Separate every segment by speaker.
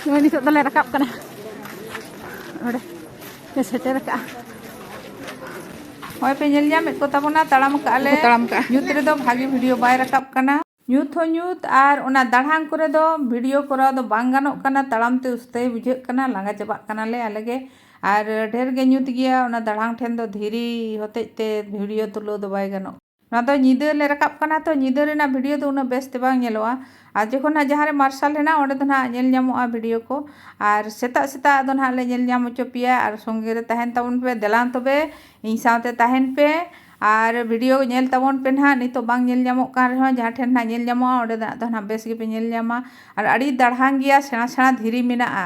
Speaker 1: ᱱᱚᱜᱼᱚᱭ ᱱᱤᱛᱚᱜ ᱫᱚᱞᱮ ᱨᱟᱠᱟᱵ ᱠᱟᱱᱟ ᱚᱸᱰᱮ ᱞᱮ ᱥᱮᱴᱮᱨ ᱟᱠᱟᱜᱼᱟ
Speaker 2: ᱦᱚᱭ ᱯᱮ ᱧᱮᱞ ᱧᱟᱢᱮᱫ ᱠᱚ ᱛᱟᱵᱚᱱᱟ ᱛᱟᱲᱟᱢ ᱠᱟᱜᱼᱟ ᱞᱮ ᱛᱟᱲᱟᱢ ᱠᱟᱜᱼᱟ ᱧᱩᱛ ᱨᱮᱫᱚ ᱵᱷᱟᱜᱮ ᱵᱷᱤᱰᱤᱭᱳ ᱵᱟᱭ ᱨᱟᱠᱟᱵ ᱠᱟᱱᱟ ᱧᱩᱛ ᱦᱚᱸ ᱧᱩᱛ ᱟᱨ ᱚᱱᱟ ᱫᱟᱲᱦᱟᱝ ᱠᱚᱨᱮ ᱫᱚ ᱵᱷᱤᱰᱤᱭᱳ ᱠᱚᱨᱟᱣ ᱫᱚ ᱵᱟᱝ ᱜᱟᱱᱚᱜ ᱠᱟᱱᱟ ᱛᱟᱲᱟᱢ ᱛᱮ ᱩᱥᱛᱟᱹᱭ ᱵᱩᱡᱷᱟᱹᱜ ᱠᱟᱱᱟ ᱞᱟᱸᱜᱟ ᱪᱟᱵᱟᱜ ᱠᱟᱱᱟ ᱞᱮ ᱟᱞᱮ ᱜᱮ ᱟᱨ ᱰᱷᱮᱨ ᱜᱮ ᱧᱩᱛ ᱜᱮᱭᱟ ᱚᱱᱟ ᱫᱟᱲᱦᱟᱝ ᱴᱷᱮᱱ ᱫᱚ ᱫᱷᱤᱨᱤ ᱦᱚᱛᱮᱡ ᱛᱮ ᱵᱷᱤᱰᱤᱭᱳ ᱛᱩᱞᱟᱹᱣ ᱫᱚ ᱵᱟᱭ ᱜᱟᱱᱚᱜ ᱱᱚᱣᱟ ᱫᱚ ᱧᱤᱫᱟᱹ ᱞᱮ ᱨᱟᱠᱟᱵ ᱠᱟᱱᱟ ᱛᱚ ᱧᱤᱫᱟᱹ ᱨᱮᱱᱟᱜ ᱵᱷᱤᱰᱤᱭᱳ ᱫᱚ ᱩᱱᱟᱹᱜ ᱵᱮᱥ ᱛᱮ ᱵᱟᱝ ᱧᱮᱞᱚᱜᱼᱟ ᱟᱨ ᱡᱚᱠᱷᱚᱱ ᱦᱟᱸᱜ ᱡᱟᱦᱟᱸ ᱨᱮ ᱢᱟᱨᱥᱟᱞ ᱦᱮᱱᱟᱜᱼᱟ ᱚᱸᱰᱮ ᱫᱚ ᱱᱟᱦᱟᱜ ᱧᱮᱞ ᱧᱟᱢᱚᱜᱼᱟ ᱵᱷᱤᱰᱤᱭᱳ ᱠᱚ ᱟᱨ ᱥᱮᱛᱟᱜ ᱥᱮᱛᱟᱜ ᱫᱚ ᱱᱟᱦᱟᱜ ᱞᱮ ᱧᱮᱞ ᱧᱟᱢ ᱦᱚᱪᱚ ᱯᱮᱭᱟ ᱟᱨ ᱥᱚᱸᱜᱮ ᱨᱮ ᱛᱟᱦᱮᱱ ᱛᱟᱵᱚᱱ ᱯᱮ ᱫᱮᱞᱟᱝ ᱛᱚᱵᱮ ᱤᱧ ᱥᱟᱶᱛᱮ ᱛᱟᱦᱮᱱ ᱯᱮ ᱟᱨ ᱵᱷᱤᱰᱤᱭᱳ ᱧᱮᱞ ᱛᱟᱵᱚᱱ ᱯᱮ ᱱᱟᱦᱟᱜ ᱱᱤᱛᱚᱜ ᱵᱟᱝ ᱧᱮᱞ ᱧᱟᱢᱚᱜ ᱠᱟᱱ ᱨᱮᱦᱚᱸ ᱡᱟᱦᱟᱸ ᱴᱷᱮᱱ ᱱᱟᱦᱟᱜ ᱧᱮᱞ ᱧᱟᱢᱚᱜᱼᱟ ᱚᱸᱰᱮ ᱫᱚ ᱱᱟᱦᱟᱜ ᱵᱮᱥ ᱜᱮᱯᱮ ᱧᱮᱞ ᱧᱟᱢᱟ ᱟᱨ ᱟᱹᱰᱤ ᱫᱟᱲᱦᱟᱝ ᱜᱮᱭᱟ ᱥᱮᱬᱟ ᱥᱮᱬᱟ ᱫᱷᱤᱨᱤ ᱢᱮᱱᱟᱜᱼᱟ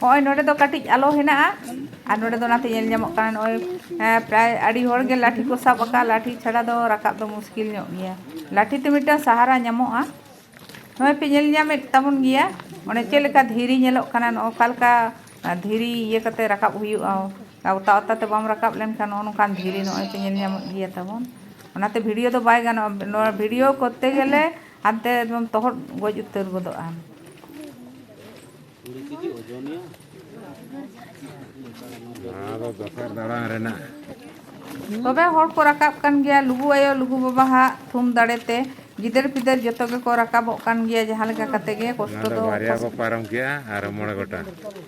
Speaker 2: ᱱᱚᱜᱼᱚᱭ ᱱᱚᱰᱮ ᱫᱚ ᱠᱟᱹᱴᱤᱡ ᱟᱞᱚ ᱦᱮᱱᱟᱜᱼᱟ ᱟᱨ ᱱᱚᱰᱮ ᱫᱚ ᱚᱱᱟᱛᱮ ᱧᱮᱞ ᱧᱟᱢᱚᱜ ᱠᱟᱱᱟ ᱱᱚᱜᱼᱚᱭ ᱯᱨᱟᱭ ᱟᱹᱰᱤ ᱦᱚᱲ ᱜᱮ ᱞᱟᱴᱷᱤ ᱠᱚ ᱥᱟᱵ ᱟᱠᱟᱫᱼᱟ ᱞᱟᱴᱷᱤ ᱪᱷᱟᱲᱟ ᱫᱚ ᱨᱟᱠᱟᱵ ᱫᱚ ᱢᱩᱥᱠᱤᱞ ᱧᱚᱜ ᱜᱮᱭᱟ ᱞᱟᱴᱷᱤ ᱛᱮ ᱢᱤᱫᱴᱟᱝ ᱥᱟᱦᱟᱨᱟ ᱧᱟᱢᱚᱜᱼᱟ ᱱᱚᱜᱼᱚᱭ ᱯᱮ ᱧᱮᱞ ᱧᱟᱢᱮᱫ ᱛᱟᱵᱚᱱ ᱜᱮᱭᱟ ᱚᱸᱰᱮ ᱪᱮᱫ ᱞᱮᱠᱟ ᱫᱷᱤᱨᱤ ᱧᱮᱞᱚᱜ ᱠᱟᱱᱟ ᱱᱚᱜᱼᱚ ᱚᱠᱟ ᱞᱮᱠᱟ ᱫᱷᱤᱨᱤ ᱤᱭᱟᱹ ᱠᱟᱛᱮ ᱨᱟᱠᱟᱵ ᱦᱩᱭᱩᱜᱼᱟ ᱚᱛᱟ ᱚᱛᱟ ᱛᱮ ᱵᱟᱢ ᱨᱟᱠᱟᱵ ᱞᱮᱱᱠᱷᱟᱱ ᱱᱚᱜᱼᱚ ᱱᱚᱝᱠᱟᱱ ᱫᱷᱤᱨᱤ ᱱᱚᱜᱼᱚᱭ ᱯᱮ ᱧᱮᱞ ᱧᱟᱢᱮᱫ ᱜᱮᱭᱟ ᱛᱟᱵᱚᱱ ᱚᱱᱟᱛᱮ ᱵᱷᱤᱰᱤᱭᱳ ᱫᱚ ᱵᱟᱭ ᱜᱟᱱᱚᱜᱼᱟ ᱱᱚᱣᱟ ᱵᱷᱤᱰᱤᱭᱳ ᱠᱚᱨᱛᱮ ᱜᱮᱞᱮ ᱦᱟᱱᱛᱮ ᱮᱠᱫᱚᱢ ᱛᱚᱦᱚᱫ ᱜᱚᱡ ᱩᱛᱟᱹᱨ ᱜᱚᱫᱚᱜ ᱟᱢ ᱛᱚᱵᱮ ᱦᱚᱲ ᱠᱚ ᱨᱟᱠᱟᱵ ᱠᱟᱱ ᱜᱮᱭᱟ ᱞᱩᱜᱩ ᱟᱭᱳ ᱞᱩᱜᱩ ᱵᱟᱵᱟ ᱦᱟᱜ ᱛᱷᱩᱢ ᱫᱟᱲᱮ ᱛᱮ ᱜᱤᱫᱟᱹᱨ ᱯᱤᱫᱟᱹᱨ ᱡᱚᱛᱚ ᱜᱮᱠᱚ ᱨᱟᱠᱟᱵᱚᱜ ᱠᱟᱱ ᱜᱮᱭᱟ ᱡᱟᱦᱟᱸ ᱞᱮᱠᱟ ᱠᱟᱛᱮ ᱜᱮ ᱠᱚᱥᱴᱚ ᱫᱚ ᱵᱟᱨᱭᱟ ᱠᱚ ᱯᱟᱨᱚᱢ ᱠᱮᱜᱼᱟ
Speaker 3: ᱟᱨ ᱢᱚᱬᱮ ᱜᱚᱴᱟᱝ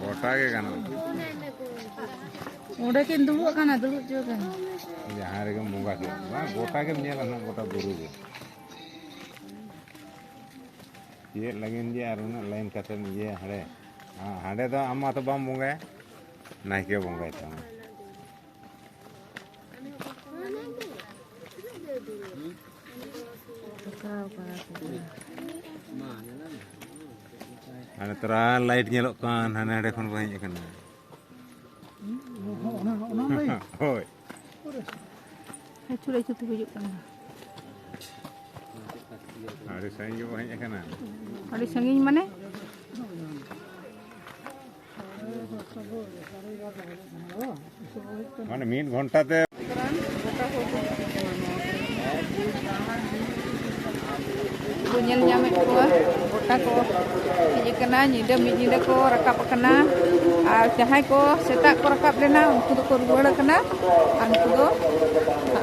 Speaker 3: ᱜᱚᱴᱟ ᱜᱮ ᱜᱟᱱᱚᱜᱼᱟ
Speaker 1: ᱚᱸᱰᱮ ᱠᱤᱱ ᱫᱩᱲᱩᱵ ᱠᱟᱱᱟ ᱫᱩᱲᱩᱵ ᱪᱚ ᱠᱟᱱᱟ ᱡᱟᱦᱟᱸ ᱨᱮᱜᱮᱢ
Speaker 3: ᱵᱚᱸᱜᱟ ᱠᱮᱫ ᱵᱟᱝ ᱜᱚᱴᱟ ᱜᱮᱢ ᱧᱮᱞᱟ ᱱᱟᱜ ᱜᱚᱴᱟ ᱵᱩᱨᱩ ᱜᱮ ᱪᱮᱫ ᱞᱟᱹᱜᱤᱫ ᱡᱮ ᱟᱨ ᱩᱱᱟᱹᱜ ᱞᱟᱭᱤᱱ ᱠᱟᱛᱮᱢ ᱤᱭᱟᱹᱭᱟ ᱦᱟᱸᱰᱮ ᱦᱟᱸᱰᱮ ᱫᱚ ᱟᱢ ᱢᱟᱛᱚ ᱵᱟᱢ ᱵᱚᱸᱜᱟᱭᱟ ᱱᱟᱭᱠᱮ ᱵᱚᱸᱜᱟᱭ ᱛᱟᱢᱟ ᱦᱟᱱᱮ ᱛᱚᱨᱟ ᱞᱟᱭᱤᱴ ᱧᱮᱞᱚᱜ ᱠᱟᱱ ᱦᱟᱱᱮ ᱦᱟᱸᱰᱮ ᱠᱷᱚᱱ ᱠᱚ ᱦᱮᱡ ᱟᱠᱟᱱᱟ
Speaker 1: ᱦᱳᱭ ᱟᱹᱪᱩᱨ ᱟᱹᱪᱩᱨ ᱛᱮ ᱜᱩᱡᱩᱜ ᱠᱟᱱᱟ ᱟᱹᱰᱤ ᱥᱟᱺᱜᱤᱧ ᱜᱮᱵᱚ
Speaker 3: ᱦᱮᱡ ᱟᱠᱟᱱᱟ ᱟᱹᱰᱤ ᱥᱟᱺᱜᱤᱧ
Speaker 1: ᱢᱟᱱᱮ
Speaker 3: ᱢᱟᱱᱮ ᱢᱤᱫ ᱜᱷᱚᱱᱴᱟ ᱛᱮ
Speaker 1: ᱠᱚ ᱧᱮᱞ ᱧᱟᱢᱮᱫ ᱠᱚᱣᱟ ᱜᱚᱴᱟ ᱠᱚ ᱦᱮᱡ ᱟᱠᱟᱱᱟ ᱧᱤᱫᱟᱹ ᱢᱤᱫ ᱧᱤᱫᱟᱹ ᱠᱚ ᱨᱟᱠᱟᱵ ᱟᱠᱟᱱᱟ ᱟᱨ ᱡᱟᱦᱟᱸᱭ ᱠᱚ ᱥᱮᱛᱟᱜ ᱠᱚ ᱨᱟᱠᱟᱵ ᱞᱮᱱᱟ ᱩᱱᱠᱩ ᱫᱚᱠᱚ ᱨᱩᱣᱟᱹᱲ ᱟᱠᱟᱱᱟ ᱟᱨ ᱩᱱᱠᱩ ᱫᱚ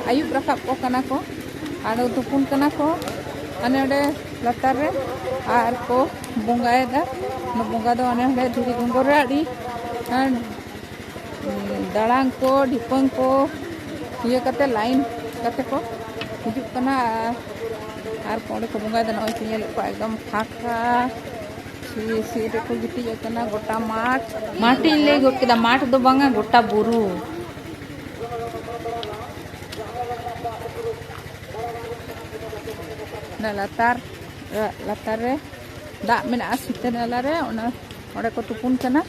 Speaker 1: ᱟᱹᱭᱩᱵ ᱨᱟᱠᱟᱵ ᱠᱚ ᱠᱟᱱᱟ ᱠᱚ ᱟᱫᱚ ᱛᱩᱯᱩᱱ ᱠᱟᱱᱟ ᱠᱚ ᱦᱟᱱᱮ ᱚᱸᱰᱮ ᱞᱟᱛᱟᱨ ᱨᱮ ᱟᱨ ᱠᱚ ᱵᱚᱸᱜᱟᱭᱮᱫᱟ ᱵᱚᱸᱜᱟ ᱫᱚ ᱚᱱᱮ ᱚᱸᱰᱮ ᱫᱷᱤᱨᱤ ᱜᱚᱸᱜᱚᱨ ᱨᱮ ᱟᱹᱰᱤ ᱫᱟᱲᱟᱝ ᱠᱚ ᱰᱷᱤᱯᱟᱹᱝ ᱠᱚ ᱤᱭᱟᱹ ᱠᱟᱛᱮ ᱞᱟᱭᱤᱱ ᱠᱟᱛᱮ ᱠᱚ ᱦᱤᱡᱩᱜ ᱠᱟᱱᱟ ᱟᱨ ᱚᱸᱰᱮ ᱠᱚ ᱵᱚᱸᱜᱟᱭᱮᱫᱟ ᱱᱚᱜᱼᱚᱭ ᱯᱮ ᱧᱮᱞᱮᱫ ᱠᱚᱣᱟ ᱮᱠᱫᱚᱢ ᱯᱷᱟᱸᱠᱟ ᱥᱤ ᱨᱮᱠᱚ ᱜᱤᱛᱤᱡ ᱟᱠᱟᱱᱟ ᱜᱚᱴᱟ ᱢᱟᱴᱷ ᱢᱟᱴᱷ ᱤᱧ ᱞᱟᱹᱭ ᱜᱚᱫ ᱠᱮᱫᱟ ᱢᱟᱴᱷ ᱫᱚ ᱵᱟᱝᱟ ᱜᱚᱴᱟ ᱵᱩᱨᱩ ᱚᱱᱟ ᱞᱟᱛᱟᱨ ᱞᱟᱛᱟᱨ ᱨᱮ ᱫᱟᱜ ᱢᱮᱱᱟᱜᱼᱟ ᱥᱤᱛᱟᱹ ᱱᱟᱞᱟ ᱨᱮ ᱚᱱᱟ ᱚᱸᱰᱮ ᱠᱚ ᱛᱩᱯᱩᱱ ᱠᱟᱱᱟ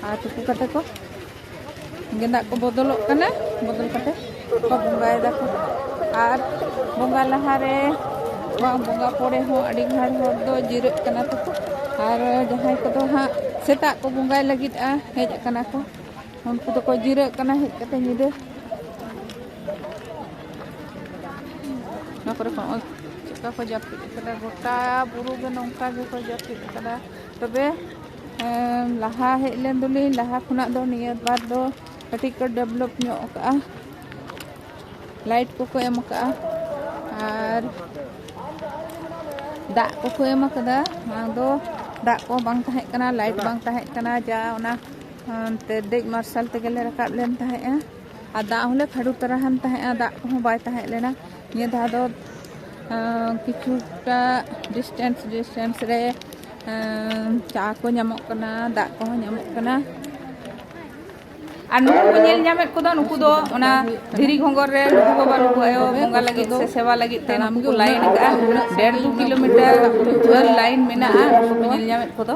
Speaker 1: ᱟᱨ ᱛᱩᱯᱩ ᱠᱟᱛᱮ ᱠᱚ ᱜᱮᱸᱫᱟᱜ ᱠᱚ ᱵᱚᱫᱚᱞᱚᱜ ᱠᱟᱱᱟ ᱵᱚᱫᱚᱞ ᱠᱟᱛᱮ ᱠᱚ ᱵᱚᱸᱜᱟᱭ ᱫᱟᱠᱚ ᱟᱨ ᱵᱚᱸᱜᱟ ᱞᱟᱦᱟ ᱨᱮ ᱵᱟᱝ ᱵᱚᱸᱜᱟ ᱯᱚᱨᱮ ᱦᱚᱸ ᱟᱹᱰᱤ ᱜᱷᱟᱲ ᱦᱚᱲ ᱫᱚ ᱡᱤᱨᱟᱹᱜ ᱠᱟᱱᱟ ᱛᱟᱠᱚ ᱟᱨ ᱡᱟᱦᱟᱸᱭ ᱠᱚᱫᱚ ᱦᱟᱸᱜ ᱥᱮᱛᱟᱜ ᱠᱚ ᱵᱚᱸᱜᱟᱭ ᱞᱟᱹᱜᱤᱫᱼᱟ ᱦᱮᱡ ᱟᱠᱟᱱᱟ ᱠᱚ ᱩᱱᱠᱩ ᱫᱚᱠᱚ ᱡᱤᱨᱟᱹᱜ ᱠᱟᱱᱟ ᱦᱮᱡ ᱠᱟᱛᱮ ᱧᱤᱫᱟᱹ ᱱᱚᱣᱟ ᱠᱚᱨᱮ ᱠᱷᱚᱱ ᱪᱮᱫᱠᱟ ᱠᱚ ᱡᱟᱹᱯᱤᱫ ᱠᱟᱫᱟ ᱜᱚᱴᱟ ᱵᱩᱨᱩ ᱜᱮ ᱱᱚᱝᱠᱟ ᱜᱮᱠᱚ ᱡᱟᱹᱯᱤᱫ ᱠᱟᱫᱟ ᱛᱚᱵᱮ ᱞᱟᱦᱟ ᱦᱮᱡ ᱞᱮᱱ ᱫᱚᱞᱤᱧ ᱞᱟᱦᱟ ᱠᱷᱚᱱᱟᱜ ᱫᱚ ᱱᱤᱭᱟᱹ ᱵᱟᱨ ᱫᱚ ᱠᱟᱹᱴᱤᱡ ᱠᱚ ᱰᱮᱵᱷᱞᱚᱯ ᱧᱚᱜ ᱠᱟᱜᱼᱟ ᱞᱟᱭᱤᱴ ᱠᱚᱠᱚ ᱮᱢ ᱠᱟᱜᱼᱟ ᱟᱨ ᱫᱟᱜ ᱠᱚᱠᱚ ᱮᱢ ᱠᱟᱫᱟ ᱢᱟᱲᱟᱝ ᱫᱚ ᱫᱟᱜ ᱠᱚ ᱵᱟᱝ ᱛᱟᱦᱮᱸ ᱠᱟᱱᱟ ᱞᱟᱭᱤᱴ ᱵᱟᱝ ᱛᱟᱦᱮᱸ ᱠᱟᱱᱟ ᱡᱟ ᱚᱱᱟ ᱫᱮᱡ ᱢᱟᱨᱥᱟᱞ ᱛᱮᱜᱮᱞᱮ ᱨᱟᱠᱟᱵ ᱞᱮᱱ ᱛᱟᱦᱮᱸᱜᱼᱟ ᱟᱨ ᱫᱟᱜ ᱦᱚᱸᱞᱮ ᱠᱷᱟᱹᱰᱩ ᱛᱟᱨᱟ ᱦᱟᱱ ᱛᱟᱦᱮᱸᱜᱼᱟ ᱫᱟᱜ ᱠᱚᱦᱚᱸ ᱵᱟᱭ ᱛᱟᱦᱮᱸ ᱞᱮᱱᱟ ᱱᱤᱭᱟᱹ ᱫᱷᱟᱣ ᱫᱚ ᱠᱤᱪᱷᱩᱴᱟ ᱰᱤᱥᱴᱮᱱᱥ ᱰᱤᱥᱴᱮᱱᱥ ᱨᱮ ᱪᱟ ᱠᱚ ᱧᱟᱢᱚᱜ ᱠᱟᱱᱟ ᱫᱟᱜ ᱠᱚᱦᱚᱸ ᱧᱟᱢᱚᱜ ᱠᱟᱱᱟ
Speaker 2: ᱟᱨ ᱱᱩᱠᱩ ᱠᱚ ᱧᱮᱞ ᱧᱟᱢᱮᱫ ᱠᱚᱫᱚ ᱱᱩᱠᱩ ᱫᱚ ᱚᱱᱟ ᱫᱷᱤᱨᱤ ᱜᱷᱚᱸᱜᱚᱨ ᱨᱮ ᱱᱩᱠᱩ ᱵᱟᱵᱟ ᱱᱩᱠᱩ ᱟᱭᱳ ᱵᱚᱸᱜᱟ ᱞᱟᱹᱜᱤᱫ ᱥᱮ ᱥᱮᱵᱟ ᱞᱟᱹᱜᱤᱫ ᱛᱮ ᱱᱩᱠᱩ ᱠᱚ ᱞᱟᱭᱤᱱ ᱟᱠᱟᱫᱼᱟ ᱰᱮᱲ ᱫᱩ ᱠᱤᱞᱳᱢᱤᱴᱟᱨ ᱡᱷᱟᱹᱞ ᱞᱟᱭᱤᱱ ᱢᱮᱱᱟᱜᱼᱟ ᱱᱩᱠᱩ ᱠᱚ ᱧᱮᱞ ᱧᱟᱢᱮᱫ ᱠᱚᱫᱚ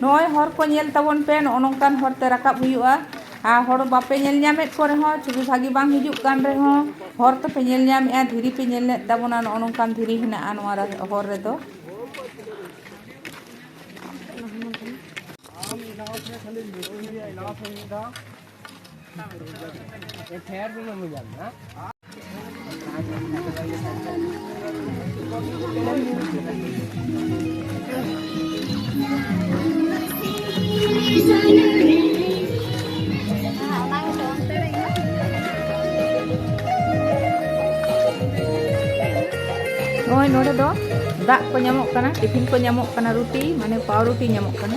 Speaker 2: ᱱᱚᱜᱼᱚᱭ ᱦᱚᱨ ᱠᱚ ᱧᱮᱞ ᱛᱟᱵᱚᱱ ᱯᱮ ᱱᱚᱜᱼᱚ ᱱᱚᱝᱠᱟᱱ ᱦᱚᱨ ᱛᱮ ᱨᱟᱠᱟᱵ ᱦᱩᱭᱩᱜᱼᱟ ᱟᱨ ᱦᱚᱲ ᱵᱟᱯᱮ ᱧᱮᱞ ᱧᱟᱢᱮᱫ ᱠᱚ ᱨᱮᱦᱚᱸ ᱪᱷᱚᱵᱤ ᱵᱷᱟᱹᱜᱤ ᱵᱟᱝ ᱦᱤᱡᱩᱜ ᱠᱟᱱ ᱨᱮᱦᱚᱸ ᱦᱚᱨ ᱛᱚᱯᱮ ᱧᱮᱞ ᱧᱟᱢᱮᱫᱼᱟ ᱫᱷᱤᱨᱤ ᱯᱮ ᱧᱮᱞ ᱞᱮᱫ ᱛᱟᱵᱚᱱᱟ ᱱᱚᱜᱼᱚ ᱱᱚᱝᱠᱟᱱ ᱫᱷᱤᱨᱤ ᱦᱮᱱᱟᱜᱼᱟ ᱱᱚᱣᱟ ᱦᱚᱨ ᱨᱮᱫᱚ ᱱᱚᱜᱼᱚᱭ ᱱᱚᱰᱮ ᱫᱚ ᱫᱟᱜ ᱠᱚ ᱧᱟᱢᱚᱜ ᱠᱟᱱᱟ ᱴᱤᱯᱷᱤᱱ ᱠᱚ ᱧᱟᱢᱚᱜ ᱠᱟᱱᱟ ᱨᱩᱴᱤ ᱢᱟᱱᱮ ᱯᱟᱣᱨᱩᱴᱤ ᱧᱟᱢᱚᱜ ᱠᱟᱱᱟ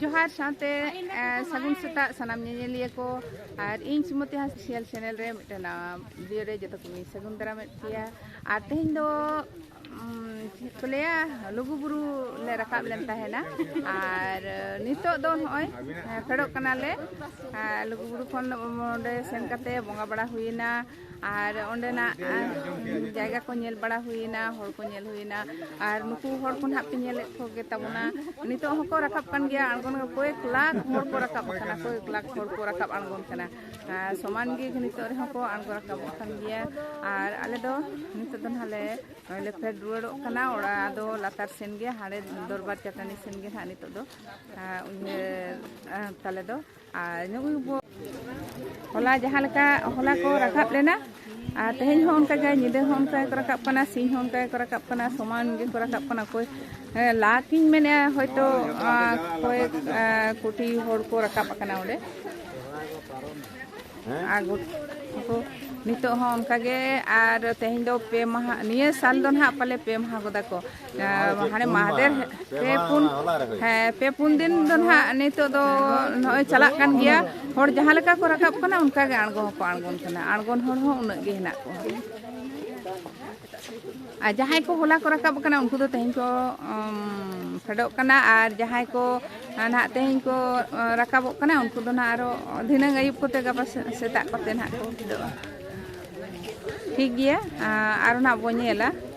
Speaker 2: ᱡᱚᱦᱟᱨ ᱥᱟᱶᱛᱮ ᱥᱟᱹᱜᱩᱱ ᱥᱮᱛᱟᱜ ᱥᱟᱱᱟᱢ ᱧᱮᱧᱮᱞᱤᱭᱟᱹ ᱠᱚ ᱟᱨ ᱤᱧ ᱥᱩᱢᱚᱛᱤ ᱦᱟᱸᱥ ᱥᱤᱭᱟᱞ ᱪᱮᱱᱮᱞ ᱨᱮ ᱢᱤᱫᱴᱮᱱ ᱵᱷᱤᱰᱤᱭᱳ ᱨᱮ ᱡᱚᱛᱚ ᱠᱚᱧ ᱥᱟᱹᱜᱩᱱ ᱫᱟᱨᱟᱢᱮᱫ ᱯᱮᱭᱟ ᱟᱨ ᱛᱮᱦᱮᱧ ᱫᱚ ᱪᱮᱫ ᱠᱚ ᱞᱟᱹᱭᱟ ᱞᱩᱜᱩ ᱵᱩᱨᱩ ᱞᱮ ᱨᱟᱠᱟᱵ ᱞᱮᱱ ᱛᱟᱦᱮᱱᱟ ᱟᱨ ᱱᱤᱛᱚᱜ ᱫᱚ ᱱᱚᱜᱼᱚᱭ ᱯᱷᱮᱰᱚᱜ ᱠᱟᱱᱟᱞᱮ ᱞᱩᱜᱩ ᱵᱩᱨᱩ ᱠᱷᱚᱱ ᱚᱸᱰᱮ ᱥᱮᱱ ᱠᱟᱛᱮ ᱵᱚᱸᱜᱟ ᱵᱟᱲᱟ ᱦᱩᱭᱮᱱᱟ ᱟᱨ ᱚᱸᱰᱮᱱᱟᱜ ᱡᱟᱭᱜᱟ ᱠᱚ ᱧᱮᱞ ᱵᱟᱲᱟ ᱦᱩᱭᱮᱱᱟ ᱦᱚᱲ ᱠᱚ ᱧᱮᱞ ᱦᱩᱭᱮᱱᱟ ᱟᱨ ᱱᱩᱠᱩ ᱦᱚᱲ ᱠᱚ ᱱᱟᱦᱟᱜ ᱯᱮ ᱧᱮᱞᱮᱫ ᱠᱚᱜᱮ ᱛᱟᱵᱚᱱᱟ ᱱᱤᱛᱚᱜ ᱦᱚᱸᱠᱚ ᱨᱟᱠᱟᱵ ᱠᱟᱱ ᱜᱮᱭᱟ ᱟᱬᱜᱚᱱ ᱠᱚᱭᱮᱠ ᱞᱟᱠᱷ ᱦᱚᱲ ᱠᱚ ᱨᱟᱠᱟᱵ ᱠᱟᱱᱟ ᱠᱚᱭᱮᱠ ᱞᱟᱠᱷ ᱦᱚᱲ ᱠᱚ ᱨᱟᱠᱟᱵ ᱟᱬᱜᱚᱱ ᱠᱟᱱᱟ ᱥᱚᱢᱟᱱ ᱜᱮ ᱱᱤᱛᱚᱜ ᱨᱮᱦᱚᱸ ᱠᱚ ᱟᱬᱜᱚ ᱨᱟᱠᱟᱵᱚᱜ ᱠᱟᱱ ᱜᱮᱭᱟ ᱟᱨ ᱟᱞᱮ ᱫᱚ ᱱᱤᱛᱚᱜ ᱫᱚ ᱱᱟᱦᱟᱜ ᱞᱮ ᱱᱚᱜᱼᱚᱭ ᱞᱮ ᱯᱷᱮᱰ ᱨᱩᱣᱟᱹᱲᱚᱜ ᱠᱟᱱᱟ ᱚᱲᱟᱜ ᱫᱚ ᱞᱟᱛᱟᱨ ᱥᱮᱱ ᱜᱮ ᱦᱟᱸᱰᱮ ᱫᱚᱨᱵᱟᱨ ᱪᱟᱹᱴᱟᱹᱱᱤ ᱥᱮᱱ ᱜᱮ ᱱᱟᱦᱟᱜ ᱱᱤᱛᱚᱜ ᱫᱚ ᱛᱟᱞᱮ ᱫᱚ ᱟᱨ ᱦᱚᱞᱟ ᱡᱟᱦᱟᱸ ᱞᱮᱠᱟ ᱦᱚᱞᱟ ᱠᱚ ᱨᱟᱠᱟᱵ ᱞᱮᱱᱟ ᱟᱨ ᱛᱮᱦᱮᱧ ᱦᱚᱸ ᱚᱱᱠᱟ ᱜᱮ ᱧᱤᱫᱟᱹ ᱦᱚᱸ ᱚᱱᱠᱟ ᱜᱮᱠᱚ ᱨᱟᱠᱟᱵ ᱠᱟᱱᱟ ᱥᱤᱧ ᱦᱚᱸ ᱚᱱᱠᱟ ᱜᱮᱠᱚ ᱨᱟᱠᱟᱵ ᱠᱟᱱᱟ ᱥᱚᱢᱟᱱ ᱜᱮᱠᱚ ᱨᱟᱠᱟᱵ ᱠᱟᱱᱟ ᱚᱠᱚᱭ ᱞᱟᱠᱤᱧ ᱢᱮᱱᱮᱫᱼᱟ ᱦᱚᱭᱛᱳ ᱚᱠᱚᱭ ᱠᱳᱴᱤ ᱦᱚᱲ ᱠᱚ ᱨᱟᱠᱟᱵ ᱟᱠᱟᱱᱟ ᱚᱸᱰᱮ ᱟᱨ ᱠᱚ ᱱᱤᱛᱚᱜ ᱦᱚᱸ ᱚᱱᱠᱟ ᱜᱮ ᱟᱨ ᱛᱮᱦᱮᱧ ᱫᱚ ᱯᱮ ᱢᱟᱦᱟ ᱱᱤᱭᱟᱹ ᱥᱟᱞ ᱫᱚ ᱱᱟᱦᱟᱜ ᱯᱟᱞᱮ ᱯᱮ ᱢᱟᱦᱟ ᱜᱚᱫᱟ ᱠᱚ ᱦᱟᱱᱮ ᱢᱟᱦᱟᱫᱮᱨ ᱯᱮ ᱯᱩᱱ ᱦᱮᱸ ᱯᱮ ᱯᱩᱱ ᱫᱤᱱ ᱫᱚ ᱱᱟᱦᱟᱜ ᱱᱤᱛᱚᱜ ᱫᱚ ᱱᱚᱜᱼᱚᱭ ᱪᱟᱞᱟᱜ ᱠᱟᱱ ᱜᱮᱭᱟ ᱦᱚᱲ ᱡᱟᱦᱟᱸ ᱞᱮᱠᱟ ᱠᱚ ᱨᱟᱠᱟᱵ ᱠᱟᱱᱟ ᱚᱱᱠᱟ ᱜᱮ ᱟᱬᱜᱚ ᱦᱚᱸᱠᱚ ᱟᱬᱜᱚᱱ ᱠᱟᱱᱟ ᱟᱬᱜᱚᱱ ᱦᱚᱲ ᱦᱚᱸ ᱩᱱᱟᱹᱜ ᱜᱮ ᱦᱮᱱᱟᱜ ᱠᱚᱣᱟ ᱟᱨ ᱡᱟᱦᱟᱸᱭ ᱠᱚ ᱦᱚᱞᱟ ᱠᱚ ᱨᱟᱠᱟᱵ ᱠᱟᱱᱟ ᱩᱱᱠᱩ ᱫᱚ ᱛᱮᱦᱮᱧ ᱠᱚ ᱯᱷᱮᱰᱚᱜ ᱠᱟᱱᱟ ᱟᱨ ᱡᱟᱦᱟᱸᱭ ᱠᱚ ᱱᱟᱦᱟᱜ ᱛᱮᱦᱮᱧ ᱠᱚ ᱨᱟᱠᱟᱵᱚᱜ ᱠᱟᱱᱟ ᱩᱱᱠᱩ ᱫᱚ ᱱᱟᱦᱟᱜ ᱟᱨᱚ ᱫᱷᱤᱱᱟᱹᱝ ᱟᱹᱭᱩᱵ ᱠᱚᱛᱮ ᱜᱟᱯᱟ ᱥᱮᱛᱟᱜ ᱠᱚᱛᱮ ᱱᱟᱦᱟᱜ ᱠᱚ ᱯᱷᱮᱰᱚᱜᱼᱟ ᱴᱷᱤᱠ ᱜᱮᱭᱟ ᱟᱨᱚ ᱱᱟᱦᱟᱜ ᱵᱚᱱ ᱧᱮᱞᱟ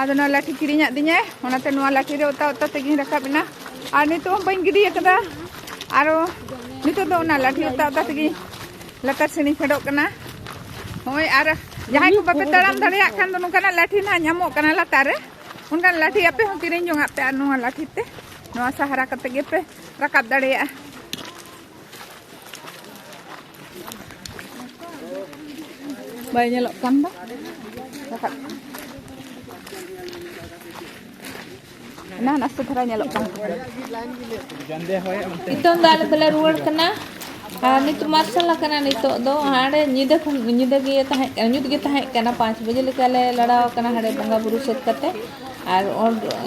Speaker 1: ᱟᱫᱚ ᱱᱚᱣᱟ ᱞᱟᱴᱷᱤ ᱠᱤᱨᱤᱧᱟᱜ ᱫᱤᱧᱟᱭ ᱚᱱᱟᱛᱮ ᱱᱚᱣᱟ ᱞᱟᱴᱷᱤ ᱨᱮ ᱚᱛᱟ ᱚᱛᱟ ᱛᱮᱜᱮᱧ ᱨᱟᱠᱟᱵ ᱮᱱᱟ ᱟᱨ ᱱᱤᱛᱚᱜ ᱦᱚᱸ ᱵᱟᱹᱧ ᱜᱤᱰᱤ ᱟᱠᱟᱫᱟ ᱟᱨᱚ ᱱᱤᱛᱚᱜ ᱫᱚ ᱚᱱᱟ ᱞᱟᱴᱷᱤ ᱚᱛᱟ ᱚᱛᱟ ᱛᱮᱜᱮ ᱞᱟᱛᱟᱨ ᱥᱮᱱᱤᱧ ᱯᱷᱮᱰᱚᱜ ᱠᱟᱱᱟ ᱦᱳᱭ ᱟᱨ ᱡᱟᱦᱟᱸᱭ ᱠᱚ ᱵᱟᱯᱮ ᱛᱟᱲᱟᱢ ᱫᱟᱲᱮᱭᱟᱜ ᱠᱷᱟᱱ ᱫᱚ ᱱᱚᱝᱠᱟᱱᱟᱜ ᱞᱟᱴᱷᱤ ᱱᱟᱦᱟᱜ ᱧᱟᱢᱚᱜ ᱠᱟᱱᱟ ᱞᱟᱛᱟᱨ ᱨᱮ ᱚᱱᱠᱟᱱ ᱞᱟᱴᱷᱤ ᱟᱯᱮ ᱦᱚᱸ ᱠᱤᱨᱤᱧ ᱡᱚᱝᱟᱜ ᱯᱮ ᱟᱨ ᱱᱚᱣᱟ ᱞᱟᱴᱷᱤ ᱛᱮ ᱱᱚᱣᱟ ᱥᱟᱦᱟᱨᱟ ᱠᱟᱛᱮ ᱜᱮᱯᱮ ᱨᱟᱠᱟᱵ ᱫᱟᱲᱮᱭᱟᱜᱼᱟ ᱵᱟᱭ ᱧᱮᱞᱚᱜ ᱠᱟᱱ ᱫᱚ ᱵᱟᱠᱷᱟᱡ ᱱᱟ ᱱᱟᱥᱮ ᱫᱷᱟᱨᱟ ᱧᱮᱞᱚᱜ
Speaker 2: ᱠᱟᱱ ᱱᱤᱛᱚᱝ ᱫᱚ ᱟᱞᱮ ᱫᱚᱞᱮ ᱨᱩᱣᱟᱹᱲ ᱠᱟᱱᱟ ᱟᱨ ᱱᱤᱛᱚᱜ ᱢᱟᱨᱥᱟᱞ ᱟᱠᱟᱱᱟ ᱱᱤᱛᱚᱜ ᱫᱚ ᱦᱟᱸᱰᱮ ᱧᱤᱫᱟᱹ ᱠᱷᱚᱱ ᱧᱤᱫᱟᱹ ᱜᱮ ᱛᱟᱦᱮᱸ ᱠᱟᱱᱟ ᱧᱩᱛ ᱜᱮ ᱛᱟᱦᱮᱸ ᱠᱟᱱᱟ ᱯᱟᱸᱪ ᱵᱟᱡᱮ ᱞᱮᱠᱟ ᱞᱮ ᱞᱟᱲᱟᱣ ᱟᱠᱟᱱᱟ ᱦᱟᱸᱰᱮ ᱵᱚᱸᱜᱟ ᱵᱩᱨᱩ ᱥᱟᱹᱛ ᱠᱟᱛᱮ ᱟᱨ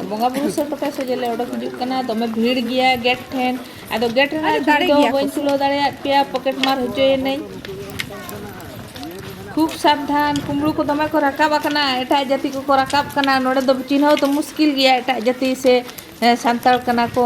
Speaker 2: ᱵᱚᱸᱜᱟ ᱵᱩᱨᱩ ᱥᱟᱹᱛ ᱠᱟᱛᱮ ᱥᱚᱡᱷᱮ ᱞᱮ ᱚᱰᱚᱠ ᱦᱤᱡᱩᱜ ᱠᱟᱱᱟ ᱫᱚᱢᱮ ᱵᱷᱤᱲ ᱜᱮᱭᱟ ᱜᱮᱴ ᱴᱷᱮᱱ ᱟᱫᱚ ᱜᱮᱴ ᱨᱮᱱᱟᱜ ᱫᱟᱲᱮ ᱫᱚ ᱵᱟᱹᱧ ᱛᱩᱞᱟᱹᱣ ᱫᱟᱲᱮᱭᱟᱜ ᱯᱮᱭᱟ ᱯᱚᱠᱮᱴ ᱢᱟᱨ ᱦᱚᱪᱚᱭᱮᱱᱟᱹᱧ ᱠᱷᱩᱵ ᱥᱟᱵᱫᱷᱟᱱ ᱠᱩᱢᱲᱩ ᱠᱚ ᱫᱚᱢᱮ ᱠᱚ ᱨᱟᱠᱟᱵ ᱟᱠᱟᱱᱟ ᱮᱴᱟᱜ ᱡᱟᱹᱛᱤ ᱠᱚᱠᱚ ᱨᱟᱠᱟᱵ ᱠᱟᱱᱟ ᱱᱚᱰᱮ ᱫᱚ ᱪᱤᱱᱦᱟᱹᱣ ᱫᱚ ᱢᱩᱥᱠᱤᱞ ᱜᱮᱭᱟ ᱮᱴᱟᱜ ᱡᱟᱹᱛᱤ ᱥᱮ ᱥᱟᱱᱛᱟᱲ ᱠᱟᱱᱟ ᱠᱚ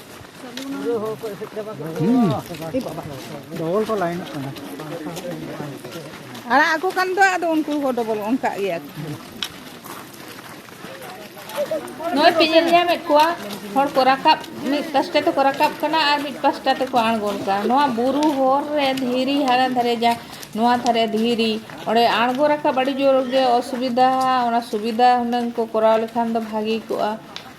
Speaker 4: ᱰᱚᱵᱚᱞ ᱠᱚ ᱞᱟᱭᱤᱱᱚᱜ
Speaker 1: ᱠᱟᱱᱟ ᱟᱲᱟᱜ ᱟᱠᱚ ᱠᱟᱱ ᱫᱚ ᱟᱫᱚ ᱩᱱᱠᱩ ᱦᱚᱸ ᱰᱚᱵᱚᱞ ᱚᱱᱠᱟᱜ ᱜᱮᱭᱟ
Speaker 2: ᱱᱚᱜᱼᱚᱭ ᱯᱮ ᱧᱮᱞ ᱧᱟᱢᱮᱫ ᱠᱚᱣᱟ ᱦᱚᱲ ᱠᱚ ᱨᱟᱠᱟᱵ ᱢᱤᱫ ᱯᱟᱥᱴᱟ ᱛᱮᱠᱚ ᱨᱟᱠᱟᱵ ᱠᱟᱱᱟ ᱟᱨ ᱢᱤᱫ ᱯᱟᱥᱴᱟ ᱛᱮᱠᱚ ᱟᱬᱜᱚᱱ ᱠᱟᱱᱟ ᱱᱚᱣᱟ ᱵᱩᱨᱩ ᱦᱚᱨ ᱨᱮ ᱫᱷᱤᱨᱤ ᱦᱟᱱᱟ ᱫᱷᱟᱨᱮ ᱡᱟ ᱱᱚᱣᱟ ᱫᱷᱟᱨᱮ ᱫᱷᱤᱨᱤ ᱚᱸᱰᱮ ᱟᱬᱜᱚ ᱨᱟᱠᱟᱵ ᱟᱹᱰᱤ ᱡᱳᱨ ᱜᱮ ᱚᱥᱩᱵᱤᱫᱟ ᱚᱱᱟ ᱥᱩᱵᱤᱫᱟ ᱦᱩᱱᱟᱹᱝ ᱠᱚ ᱠᱚᱨᱟᱣ ᱞᱮᱠᱷᱟᱱ ᱫᱚ ᱵᱷᱟᱹᱜᱤ ᱠᱚᱜᱼᱟ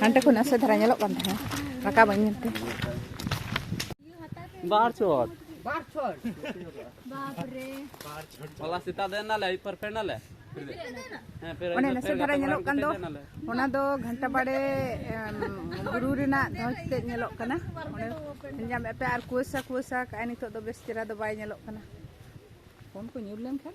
Speaker 1: ᱦᱟᱱᱛᱮ ᱠᱷᱚᱱ ᱱᱟᱥᱮ ᱫᱷᱟᱨᱟ ᱧᱮᱞᱚᱜ ᱠᱟᱱ ᱛᱟᱦᱮᱸᱫ ᱨᱟᱠᱟᱵ ᱵᱟᱹᱧ ᱧᱮᱞ ᱛᱮ
Speaker 4: ᱵᱟᱨ ᱪᱚᱴ ᱵᱟᱨ ᱪᱚᱴ ᱵᱟᱯ
Speaker 5: ᱨᱮ ᱵᱟᱨ ᱪᱚᱴ ᱦᱚᱞᱟ
Speaker 4: ᱥᱮᱛᱟ ᱫᱮᱱ ᱱᱟᱞᱮ ᱯᱟᱨ ᱯᱮ ᱱᱟᱞᱮ
Speaker 1: ᱚᱱᱮ ᱱᱟᱥᱮ ᱫᱷᱟᱨᱟ ᱧᱮᱞᱚᱜ ᱠᱟᱱ ᱫᱚ ᱚᱱᱟ ᱫᱚ ᱜᱷᱟᱱᱴᱟ ᱵᱟᱲᱮ ᱵᱩᱨᱩ ᱨᱮᱱᱟᱜ ᱫᱷᱚᱡᱽ ᱛᱮᱫ ᱧᱮᱞᱚᱜ ᱠᱟᱱᱟ ᱚᱸᱰᱮ ᱧᱟᱢᱮᱫ ᱯᱮ ᱟᱨ ᱠᱩᱣᱟᱹᱥᱟ ᱠᱩᱣᱟᱹᱥᱟ ᱠᱟᱜᱼᱟᱭ ᱱᱤᱛᱚᱜ ᱫᱚ ᱵᱮᱥ ᱪᱮᱦᱨᱟ ᱫᱚ ᱵᱟᱭ ᱧᱮᱞᱚᱜ ᱠᱟᱱᱟ ᱯᱷᱳᱱ ᱠᱚ ᱧᱩᱨ ᱞᱮᱱᱠᱷᱟᱱ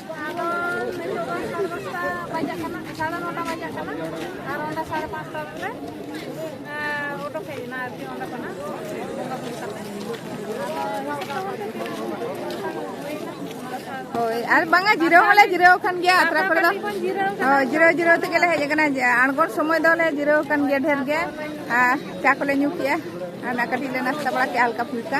Speaker 2: ᱦᱳᱭ ᱟᱨ ᱵᱟᱝᱟ ᱡᱤᱨᱟᱹᱣ ᱦᱚᱸᱞᱮ ᱡᱤᱨᱟᱹᱣ ᱠᱟᱱ ᱜᱮᱭᱟ ᱟᱛᱨᱟ ᱠᱚᱨᱮ ᱫᱚ ᱦᱳᱭ ᱡᱤᱨᱟᱹᱣ ᱡᱤᱨᱟᱹᱣ ᱛᱮᱜᱮ ᱞᱮ ᱦᱮᱡ ᱟᱠᱟᱱᱟ ᱟᱬᱜᱚᱱ ᱥᱚᱢᱚᱭ ᱫᱚᱞᱮ ᱡᱤᱨᱟᱹᱣ ᱠᱟᱱ ᱜᱮᱭᱟ ᱰᱷᱮᱨ ᱜᱮ ᱟᱨ ᱪᱟ ᱠᱚᱞᱮ ᱧᱩ ᱠᱮᱜᱼᱟ ᱟᱨ ᱠᱟᱹᱴᱤᱡ ᱞᱮ ᱱᱟᱥᱛᱟ ᱵᱟᱲᱟ ᱠᱮᱜᱼᱟ ᱦᱟᱞᱠᱟ ᱯᱷᱩᱞᱠᱟ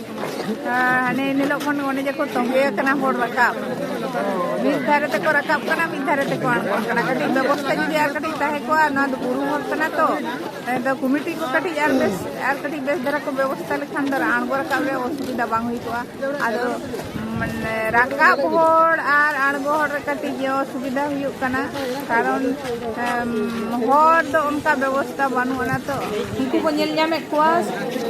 Speaker 2: ᱦᱟᱱᱮ ᱧᱮᱞᱚᱜ ᱠᱷᱚᱱ ᱚᱱᱮ ᱡᱮᱠᱚ ᱛᱚᱸᱜᱮ ᱟᱠᱟᱱᱟ ᱦᱚᱲ ᱨᱟᱠᱟᱵ ᱢᱤᱫ ᱫᱷᱟᱨᱮ ᱛᱮᱠᱚ ᱨᱟᱠᱟᱵ ᱠᱟᱱᱟ ᱢᱤᱫ ᱫᱷᱟᱨᱮ ᱛᱮᱠᱚ ᱟᱬᱜᱚᱱ ᱠᱟᱱᱟ ᱠᱟᱹᱴᱤᱡ ᱵᱮᱵᱚᱥᱛᱷᱟ ᱡᱩᱫᱤ ᱟᱨ ᱠᱟᱹᱴᱤᱡ ᱛᱟᱦᱮᱸ ᱠᱚᱜᱼᱟ ᱱᱚᱣᱟ ᱫᱚ ᱵᱩᱨᱩ ᱦᱚᱨ ᱠᱟᱱᱟ ᱛᱚ ᱟᱫᱚ ᱠᱚᱢᱤᱴᱤ ᱠᱚ ᱠᱟᱹᱴᱤᱡ ᱟᱨ ᱵᱮᱥ ᱟᱨ ᱠᱟᱹᱴᱤᱡ ᱵᱮᱥ ᱫᱷᱟᱨᱟ ᱠᱚ ᱵᱮᱵᱚᱥᱛᱷᱟ ᱞᱮᱠᱷᱟᱱ ᱫᱚ ᱟᱬᱜᱚ ᱨᱟᱠᱟᱵ ᱨᱮ ᱚᱥᱩᱵᱤᱫᱷᱟ ᱵᱟᱝ ᱦᱩᱭ ᱠᱚᱜᱼᱟ ᱟᱫᱚ ᱢᱟᱱᱮ ᱨᱟᱠᱟᱵ ᱦᱚᱲ ᱟᱨ ᱟᱬᱜᱚ ᱦᱚᱲ ᱨᱮ ᱠᱟᱹᱴᱤᱡ ᱚᱥᱩᱵᱤᱫᱷᱟ ᱦᱩᱭᱩᱜ ᱠᱟᱱᱟ ᱠᱟᱨᱚᱱ ᱦᱚᱨ ᱫᱚ ᱚᱱᱠᱟ ᱵᱮᱵᱚᱥᱛᱷᱟ ᱵᱟᱹᱱᱩᱜ ᱟᱱᱟ ᱛᱚ ᱩᱱᱠᱩ ᱠᱚ ᱧᱮᱞ ᱧᱟᱢᱮᱫ ᱠᱚᱣᱟ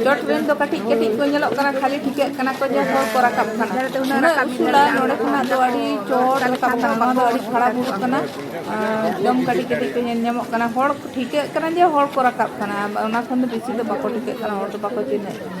Speaker 2: ᱪᱚᱴ ᱨᱮᱱ ᱫᱚ ᱠᱟᱹᱴᱤᱡ ᱠᱟᱹᱴᱤᱡ ᱠᱚ ᱧᱮᱞᱚᱜ ᱠᱟᱱᱟ ᱠᱷᱟᱹᱞᱤ ᱴᱷᱤᱠᱟᱹᱜ ᱠᱟᱱᱟ ᱠᱚ ᱡᱮ ᱦᱚᱲ ᱠᱚ ᱨᱟᱠᱟᱵ ᱠᱟᱱᱟ ᱩᱱᱟᱹᱜ ᱩᱥᱩᱞᱟ ᱱᱚᱰᱮ ᱠᱷᱚᱱᱟᱜ ᱫᱚ ᱟᱹᱰᱤ ᱪᱚᱴ ᱨᱟᱠᱟᱵ ᱠᱟᱱᱟ ᱱᱚᱣᱟ ᱫᱚ ᱟᱹᱰᱤ ᱠᱷᱟᱨᱟᱯ ᱦᱩᱭᱩᱜ ᱠᱟᱱᱟ ᱮᱠᱫᱚᱢ ᱠᱟᱹᱴᱤᱡ ᱠᱟᱹᱴᱤᱡ ᱠᱚ ᱧᱮᱞ ᱧᱟᱢᱚᱜ ᱠᱟᱱᱟ ᱦᱚᱲ ᱴᱷᱤᱠᱟᱹᱜ ᱠᱟᱱᱟ ᱡᱮ ᱦᱚᱲ ᱠᱚ ᱨᱟᱠᱟᱵ ᱠᱟᱱᱟ ᱚᱱᱟ ᱠᱷᱚᱱ ᱫᱚ ᱵᱮᱥᱤ ᱫᱚ ᱵᱟᱠᱚ ᱴᱷᱤᱠᱟᱹᱜ ᱠᱟᱱᱟ ᱦᱚᱲ ᱫᱚ ᱵᱟᱠᱚ ᱪᱤᱱᱦᱟᱹᱜ ᱠᱟᱱᱟ